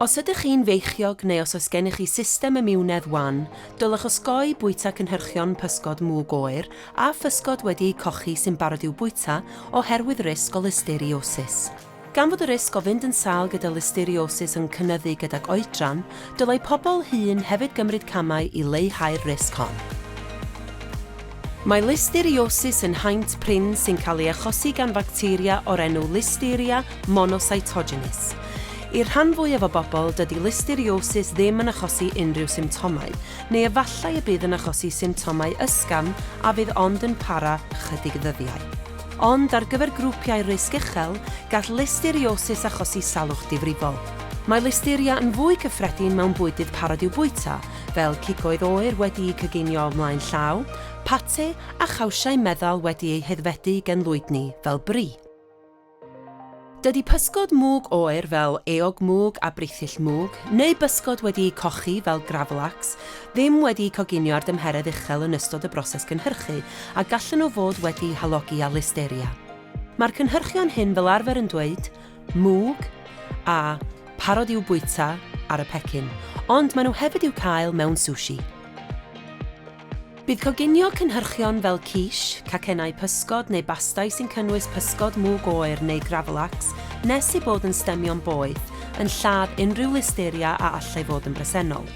Os ydych chi'n feichiog neu os oes gennych chi system imiwnedd wan, dylech osgoi bwyta cynhyrchion pysgod mwg oer a physgod wedi eu cochi sy'n barod i'w bwyta oherwydd risg o listeriosis. Gan fod y risg o fynd yn sâl gyda listeriosis yn cynyddu gydag oedran, dylai pobl hŷn hefyd gymryd camau i leihau'r risg hon. Mae listeriosis yn haint prin sy'n cael ei achosi gan facteria o'r enw Listeria monocytogenes. I'r rhan fwyaf o bobl, dydy listeriosis ddim yn achosi unrhyw symptomau, neu efallai y bydd yn achosi symptomau ysgafn a fydd ond yn para ychydig ddyddiau. Ond ar gyfer grwpiau risg uchel, gall listeriosis achosi salwch difrifol. Mae listeria yn fwy cyffredin mewn bwydydd parod i'w bwyta, fel cigoedd oer wedi'u coginio o flaen llaw, pate a chawsiau meddal wedi eu haeddfedu gen lwydni fel bri. Dydy pysgod mwg oer fel eog mwg a brithyll mwg, neu bysgod wedi'u cochi fel gravlax, ddim wedi'u coginio ar dymheredd uchel yn ystod y broses cynhyrchu a gallen nhw fod wedi halogi â listeria. Mae'r cynhyrchion hyn fel arfer yn dweud, mwg a parod i'w bwyta ar y pecyn, ond maen nhw hefyd i'w cael mewn sushi. Bydd coginio cynhyrchion fel quiche, cacennau pysgod neu bastâu sy'n cynnwys pysgod mwg oer neu gravlax nes eu bod yn stemio'n boeth yn lladd unrhyw listeria a allai fod yn bresennol.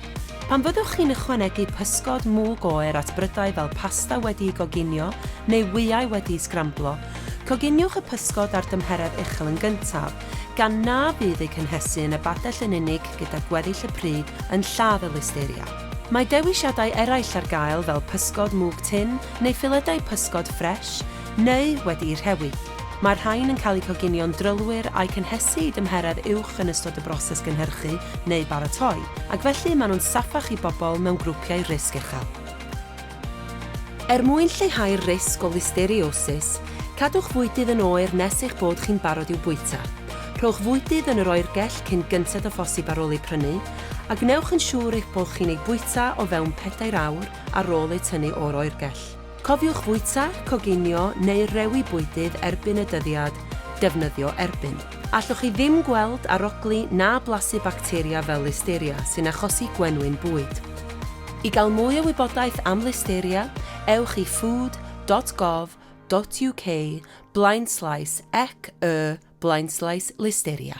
Pan fyddwch chi'n ychwanegu pysgod mwg oer at brydau fel pasta wedi'i goginio neu wyau wedi'u sgramblo, Coginiwch y pysgod a'r dymheredd uchel yn gyntaf, gan na fydd eu cynhesu yn y badell yn unig gyda gweddill y pryd yn lladd y listeria. Mae dewisiadau eraill ar gael fel pysgod mwg tun neu filedau pysgod ffres neu wedi'u rhewi. Mae'r rhain yn cael eu coginio'n drylwyr a'u cynhesu i dymheredd uwch yn ystod y broses gynhyrchu neu baratoi, ac felly maen nhw'n saffach i bobl mewn grwpiau risg uchel. Er mwyn lleihau'r risg o listeriosis, cadwch fwydydd yn oer nes eich bod chi'n barod i'w bwyta. Rhowch fwydydd yn yr oergell cyn gynted â phosib ar ôl eu prynu, a gwnewch yn siŵr eich bod chi'n eu bwyta o fewn pedair awr ar ôl eu tynnu o'r oergell. Cofiwch fwyta, coginio neu rewi bwydydd erbyn y dyddiad defnyddio erbyn. Allwch chi ddim gweld, arogli na blasu bacteria fel Listeria sy'n achosi gwenwyn bwyd. I gael mwy o wybodaeth am Listeria, ewch i food dot gov dot uk blaenslaes ec y blaenslaes listeria.